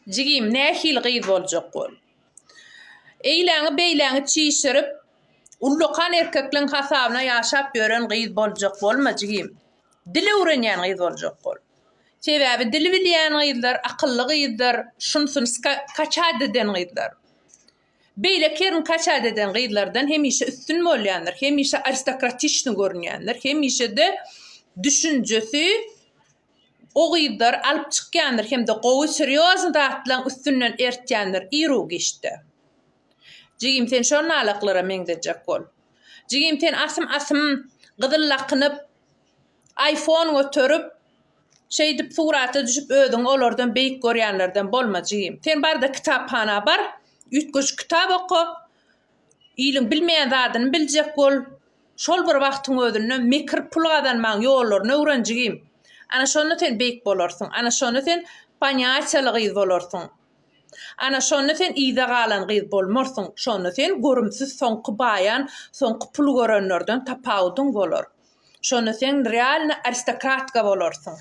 Jigim, nähili gyz boljak ol? Eýläňi-beýläňi çişirip, ullakan erkekleň hasabyna ýaşap ýören gyz boljak bolma, jigim. Dil öwrenýän gyz boljak ol. Sebäbi dil bilýän gyzlar akylly gyzdyr, şunsun kaçat eden gyzlar. Beýle kerin kaçat eden gyzlardan hemişe üstün bolýandyr, hemişe aristokratiçni görünýändir, hemişe-de düşünjesi O gyzlar alyp çykýandyr hem-de gowy serýozny zatlaň üstünden ertýändir ir u giçde. Jigim sen şol nalaklara meňzejek bol. Jigim sen asym asym gyzyl lakynyp Aýfon göterip şeýdip surata düşüp özüňi olardan beýik görýänlerden bolma jigim. Sen barda kitaphana bar üýtgeşik kitap oka. Iliň bilmeýän zadyny biljek bol. Şol bir wagtyň özünde mekir pul gazanmagyň ýollaryny öwren jigim. Ana şonda sen beýik bolarsyň. Ana şonda sen panyýatiýaly gyz bolarsyň. Ana şonda sen yza galan gyz bolmarsyň. Şonda sen görümsiz soňky baýan, soňky pul görenlerden tapawudyň bolar. Şonda sen realny aristokratka bolarsyň.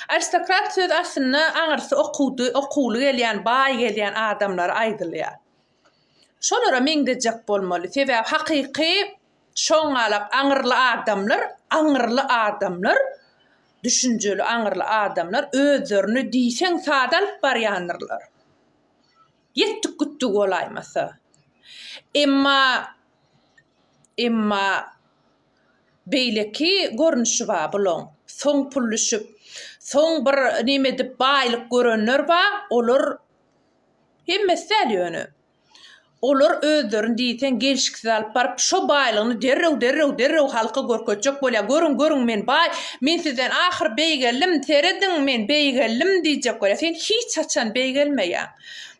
Aristokrat söz aslynda aňyrsy okuwdy, okuwly gelýän, baý gelýän adamlara aýdylýar. Şolara meňzejek bolmaly. Sebäbi hakyky şoňňalak aňyrly adamlar, aňyrly adamlar, düşünjeli aňyrly adamlar özlerini diýseň sada alyp barýandyrlar. Ýetdik gitdik bolaýmasa. Emma emma beýleki görnüşi bar bulaň. Soň pulluşyp, soň bir neme edip baýlyk görenler bar, olar Hemmesi däl ýöne. Olar özlerini diýseň gelşiksiz alyp baryp, şo baýlygyny derrew, derrew, derrew halka görkezjek bolýar. Görüň, görüň, men baý, men sizden ahyr beýgeldim, serediň, men beýgeldim diýjek bolýar. Sen hiç haçan beýgelmeýäň.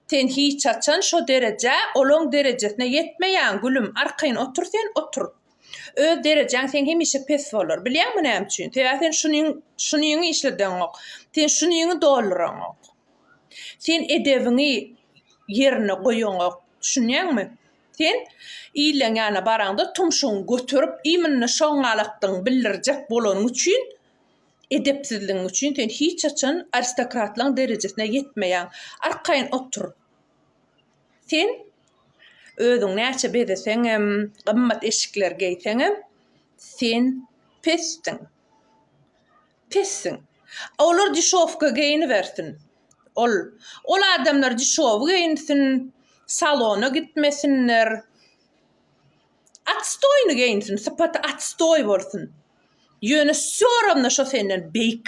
Sen hiç haçan şo derejä, olaň derejesine ýetmeýäň, gülüm. Arkaýyn otur sen, otur. Öz derejäň seň hemişe pes bolar. Bilýäňmi näme üçin? Sebäbi sen şuniň, şuniňi işledeňok. Sen şuniňi dolduraňok. Sen edebiňi ýerine goýaňok, düşünýäňmi? Sen ileň ýana baraňda tumşugyňy göterip, iýminde şoňňalakdygyňy bildirjek bolanyň üçin, edepsizligiň üçin sen hiç haçan aristokratlaryň derejesine ýetmeýäň. Arkaýyn otur. Sen özüňi näçe bezeseňem, gymmat eşikleri geýseňem, sen pesdiň. Pissiň. Olar dişowka geýinibersin. Ol. Ol adamlar dişowy geýinsin, salona gitmesinler. Atstoýny geýinsin, sypaty atstoý bolsun. Ýöne wsýo rawno şo senden beýik.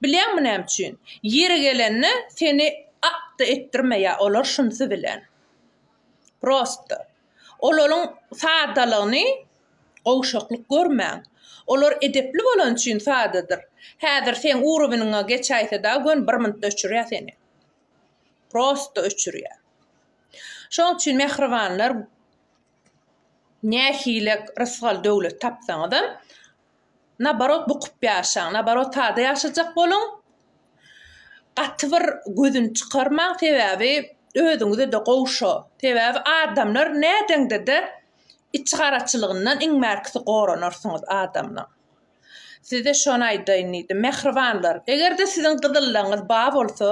Bilýäňmi näme üçin? Ýeri gelende seni a-da etdirmeýär olar şunsy bilen. Prosta. Olaryň sadalygyny gowşaklyk görmäň. Olar edepli bolany üçin sadadyr. Häzir seň uroweniňe geçäýse-da gön bir minutda öçürýär seni. Prosta öçürýär. Şoň üçin mähribanlar nähile rysgal döwlet tapsaňyzam Nabarot bukup ýaşaň. Nabarot sada ýaşajak boluň. Gaty bir gözüni çykarmaň sebäbi özüňizede gowy şo. Sebäbi adamlar nädeňdede içi garaçylygyndan iň bärkisi goranarsyňyz adamlaň. Size şony aýdaýyn diýdim. Mähribanlar egerde siziň gyzyllygyňyz ba bolsa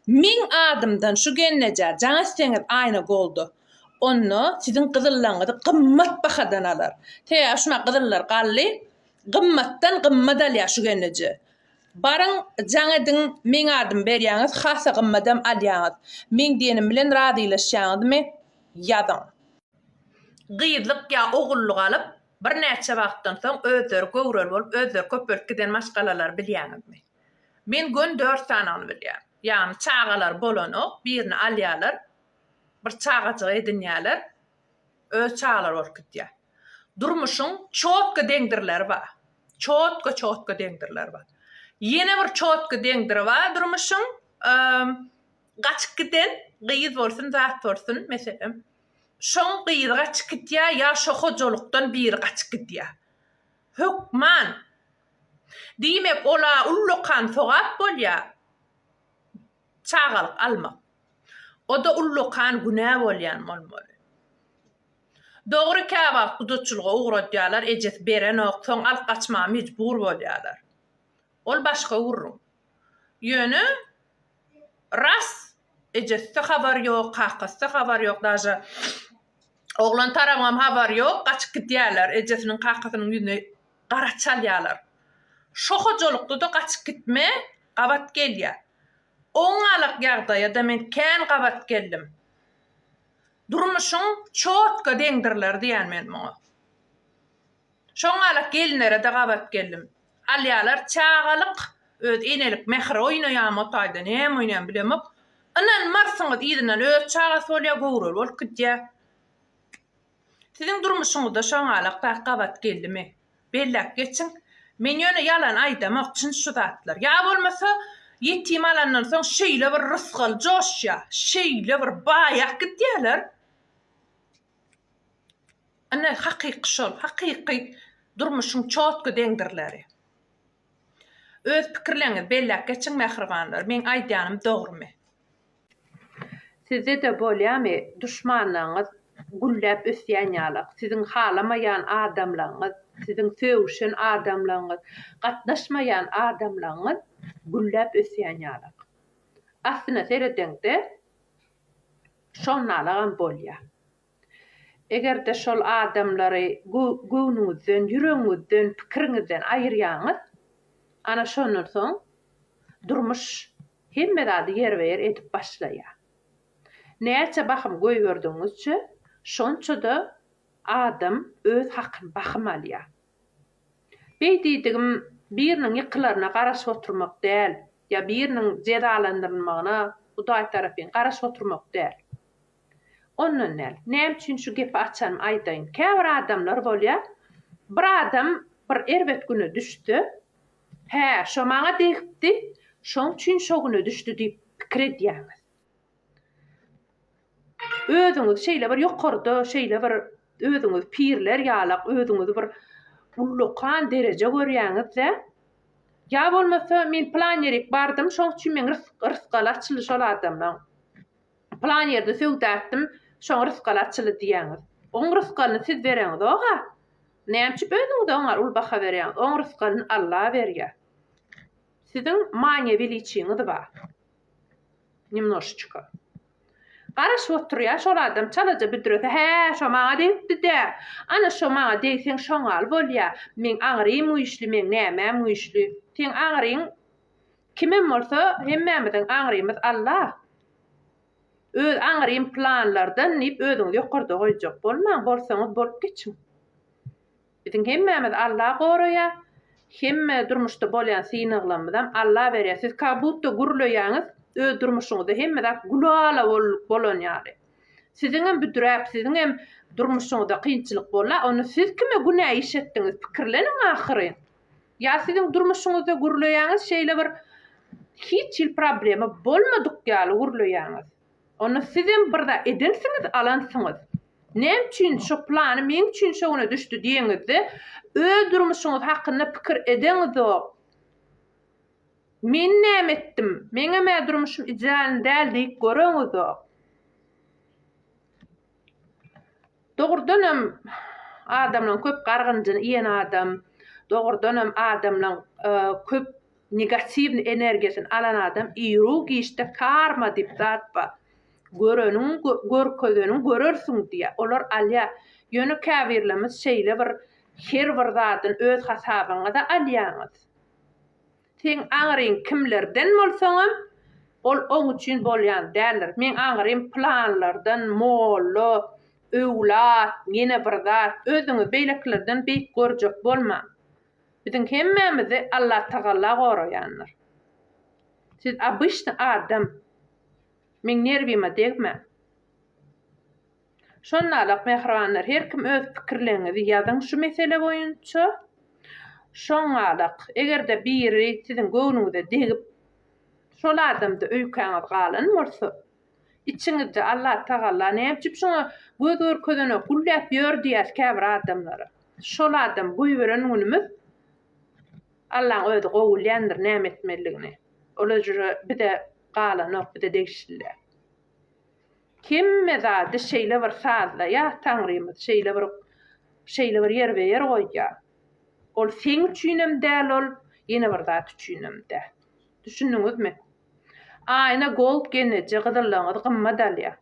meň adymdan şu gennejä jaň etseňiz aýna golda Onda siziň gyzyllaňyzy gymmat bahadan alar. Tä şuna gyzyllar galdy. Gymmatdan gymmat alýar şu gelneje. Baryň, jaň ediň, meň adymy berýäňiz, hasa gymmadam alýaňyz. Meň diýenim bilen razylaşýaňyzmy, ýazyň. Gyzlyk ýa ogullyk alyp, birnäçe wagtdan soň özleri göwreli bolup, özleri köpelip giden maşgalalary bilýäňizmi? Men gön dört sanany bilýän. Ýagny çagalary bolanok, birini alýarlar. Bir çagajygy edinýärler, öz çagalary bolup gidýär. Durmuşyň çotga deňdirleri bar. Çotga-çotga deňdirleri bar. Ýene bir çotga deňdiri bar durmuşyň, gaçyp giden gyz bolsun, zat bolsun, meselem, şoň gyzy gaçyp gidýär ýa şo hojalykdan biri gaçyp gidýär. Hökman, diýmek, ola ullakan sogap bolýar. Çagalyk almak. O-da ullakan günä bolýan bolmaly. Dogry käwagt gudaçylyga ugradýarlar, ejesi berenok, soň alyp gaçmaga mejbur bolýarlar. Ol başga gürrüň. Ýöne ras, ejesi-de habar ýok, kakasy-da habar ýok, daže oglan tarabam habar ýok, gaçyp gidýärler, ejesiniň, kakasynyň ýüzüne gara çalýarlar. Şo hojalykda-da gaçyp gitme, gabat gelýär. Oňňalak ýagdaýa-da men kän gabat geldim. Durmuşyň çotka deňdirler diýýän men muňa. Şoňňalak gelinlere-de gabat geldim. Alýarlar çagalyk, öz enelik mähri oýnaýarmy o taýda, näme oýnaýarmy bilemok. Ynanmarsyňyz, yzyndan öz çagasy bolýar, göwreli bolup gidýär. Siziň durmuşyňyzda şoňalak zat gabat geldimi? Belläp geçiň. Men ýöne ýalan aýdamok, çyn şu zatlar. Ýa bolmasa, ýetim alandan soň şeýle bir rysgal joşýar, şeýle bir baýap gidýärler. Ine, hakyky şol, hakyky durmuşyň çotga deňdirleri. Öz pikirleriňizi belläp geçiň mähribanlar meň aýdýanym dogrymy. Sizdede bolýamy duşmanlaňyz gülläp ösýän ýalak siziň halamaýan adamlaňyz siziň sögüşen adamlaňyz gatnaşmaýan adamlaňyz gülläp ösýän ýalak aslyna seredeňde şonalagam bolýa. Eger-de şol adamlary göwnüňizden, ýüregiňizden, pikiriňizden aýyrýaňyz, ana şondan soň durmuş hemme zady ýerbe-ýer edip başlaýar. Näçe bahym goýberdigiňizçe, şonça-da adam öz hakyny bahym alýar. Beý diýdigim biriniň ýykylaryna garaşyp oturmak däl ýa biriniň jezalandyrylmagyna Hudaý tarapyn garaşyp oturmak däl. Ondan däl. Näme üçin şu gepi açanym aýdaýyn. Käbir adamlar bolýar, bir adam bir erbet güne düşse, Hä, şo maňa degipdi, şoň üçin şo güne düşdi diýip pikir edýäňiz. Özüňizi şeýle bir ýokarda, şeýle bir özüňizi pirler ýalak, özüňizi bir ullakan dereje görýäňiz-de, Ýa bolmasa men plan ýerik bardym, şoň üçin meň rysgaly açyldy şol adamlaň. Pylan ýerde söwda etdim, şoň rysgaly açyldy diýýäňiz. Oň rysgalyny siz bereňizog-a. Näme üçin özüňize oňar uly baha berýäňiz? Oň rysgalyny Alla berýär. Siziň manyýe weliçiňiz bar. Nemnoşeçko. Garaşyp oturýar şol adam çalaja büdrese, hä, şo maňa degipdi-dä. Ana, şo maňa degseň şoňal bolýar. Meň aňrym güýçli, meň nämäm güýçli. Seň aňryň kimem bolsa, hemmämiziň aňrymyz Alla. Öz aňrym planlardan diýip özüňizi ýokarda goýjak bolmaň, bolsaňyz bolup geçiň. Biziň hemmämizi Alla goraýar, hemme durmuşda bolýan synaglamyzam Alla berýär. Siz kagbutda gürleýäňiz, öz durmuşyňyzda hemme zat gülala bolan ýaly. Siziňem büdräp, siziňem durmuşyňyzda kynçylyk bolar, onda siz kime günä iş etdiňiz, pikirleniň ahyryn. Ýa siziň durmuşyňyzda gürleýäňiz şeýle bir hiç hil problema bolmadyk ýaly gürleýäňiz. Onda sizem bir zat edensiňiz, alansyňyz. Näme üçin şo plany meň üçin şo güne düşdi diýeňizde, öz durmuşyňyz hakynda pikir edeňizok. Men näme etdim, meňem-ä durmuşym idealny däl diýip göreňizok. Dogrudan hem adamlaň köp gargynjyny iýen adam, dogrudan hem adamlaň köp negatiwny energiýasyny alan adam iýruw giçde karma diýip zat bar. Göreniň görkezeniň görersiň diýýär. Olar alýar. Ýöne käbirlerimiz şeýle bir her bir zadyny öz hasabyňyza alýaňyz. Seň aňryň kimlerden bolsaňam, ol oň üçin bolýan däldir. Meň aňrym pylanlardan, molla, öwlat, ýene bir zat. Özüňi beýlekilerden beýik görjek bolmaň. Biziň hemmämizi Allatagala goraýandyr. Siz obyşny adam. Meň nerwime degmäň. Şondalyk mähribanlar her kim öz pikirleriňizi ýazyň şu mesele boýunça. Şondalyk eger-de biri siziň göwnüňize degip şol adamda öýkäňiz galan bolsa, içiňizde Allah tagalla näme üçin şuňa göz görkezenok gülläp ýör diýýäs käbir adamlara. Şol adamy goýberen günümiz Allaň özi gowy bilýändir näme etmelidigini. Ol öjre bize galanok bize degişli däl. Hemme zady şeýle bir sazlaýar Taňrymyz, şeýle bir şeýle bir ýerbe-ýer goýýar. Ol seň üçinem däl ol, ýene bir zat üçinem däl. Düşündiňizmi? Aýna gold geneje gyzyllygyňyzy gymmat alýar.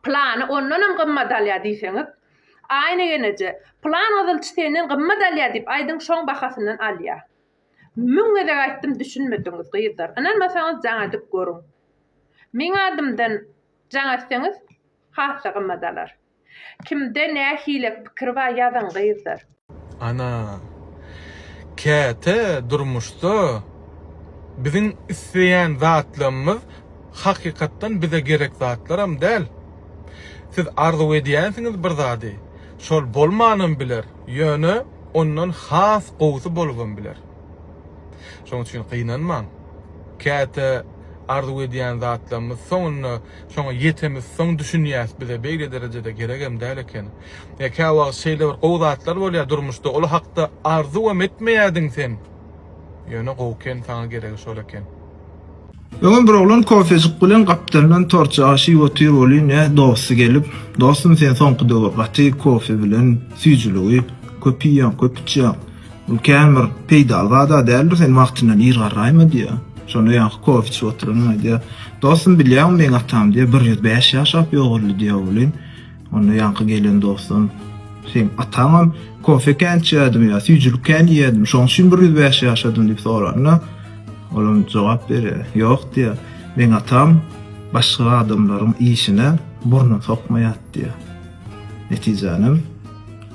Plany ondanam gymmat alýar diýseňiz, Aýna geneje, plan gyzylçy senden gymmat alýar diýip aýdyň şoň bahasyndan alýar. Müň gezek aýtdym düşünmediňiz gyzlar ynanmasaňyz jaň edip görüň meň adymdan jaň etseňiz hassa gymmat alar kimde nähile pikir bar ýazyň gyzlar. Ana. Käte durmuşda biziň isleýän zatlarymyz hakykatdan bize gerek zatlaram däl. Siz arzuw edýänsiňiz bir zady, şol bolmanam biler, ýöne, ondan has gowusy bolubam biler. Şonuň üçin gynanmaň. Käte arzuw edýän zatlarymyz soňunda şoňa ýetemizsoň düşünýäs, bize beýle derejede geregem däl eken. Ýa käwagt şeýle bir gowy zatlar bolýar durmuşda, ol hakda arzuwam etmeýärdiň sen. Ýöne gowy ken saňa geregi şol eken. Öňem bir oglan kofejik bilen gapdalyndan tortja aşyp otyr welin ne dosty gelip dostum sen soňky döwür gaty kofe bilen süýjüligi köp iýýäň köp içýäň bul kän bir peýdaly zada däldir sen wagtyndan ir garraýma diýýär şonda ýaňky kofe içip oturanam aýdýar dostum bilýäňmi meň atam diýýär bir ýüz bäş ýaşap ýogaldy diýä welin Onda ýaňky gelen dostum, Seň ataňam kofe kän içýärdim ýa süýjülik kän iýýärdim, şoň üçin bir ýüz bäş ýaşadym diýip soranda, olam jogap berýär, Ýok diýýär, meň atam başga adamlaryň işine burnun sokmaýardy diýýär. Netijänem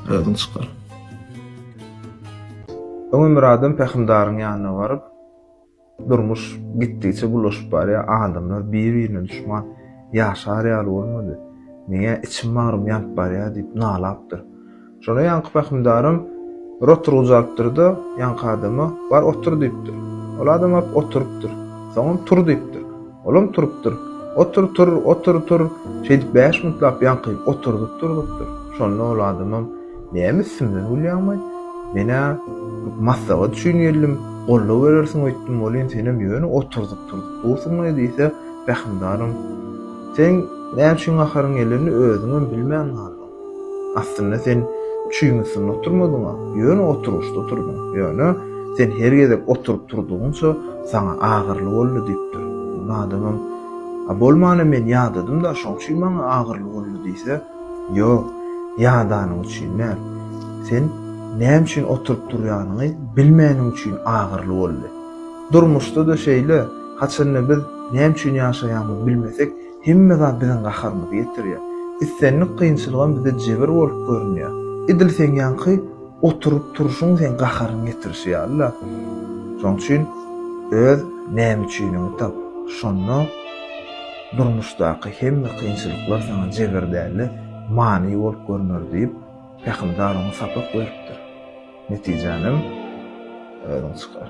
özüň çykar. Öňe Myradam Pähimdaryň ýanyna baryp, Durmuş gitdigiçe bulaşyp barýar, adamlar bir-birine duşman. Ýaşar ýaly bolmady. Meň-ä içim bagrym ýanyp barýar diýip nalapdyr. Şonda ýaňky pähimdarym bir oturgyjy alypdyr-da, ýaňky adama, Bar otur diýipdir. Ol adam baryp oturypdyr. Soňam Tur diýipdir. Olam turupdyr. Otur, tur, otur, tur! Şeýdip bäş minutlap ýaňky oturdyp durdupdyr. Şonda ol adamam, Näme üstümden gülýäňmi? Men-ä maslahat üçin geldim, goldaw berersiň öýtdüm welin, senem ýöne oturdyp-turdyp dursuň-laý diýse, Pähimdaram, Seň näme üçin gaharyň geldenini özüňem bilmän galdyň. Aslynda sen çüýň üstünde oturmadyň-a, ýöne oturgyçda oturdyň. Ýöne, sen her gezek oturyp turdugyňça, saňa agyryly boldy, diýipdir. Muny adamam, A bolmana men ýadadym-da, şoň üçin maňa agyryly boldy diýse, Ýok, ýadanyň üçin däl. Sen näme üçin oturyp turýanyňy bilmäniň üçin agyryly boldy. Durmuşda-da şeýle, haçanda biz näme üçin ýaşaýanymyzy bilmesek, Hemme zat biziň gaharymyzy getirýär. Islendik kynçylygam bize jebir bolup görünýär. Edil seň ýaňky oturyp turşuň seň gaharyň getirişi ýaly-la. Şonuň üçin öz näme üçiniňi tap. Şonda durmuşdaky hemme kynçylyklar saňa jebir däl-de, many bolup görüner diýip, pähimdar oňa sapak beripdir. Netijänem özüň çykar.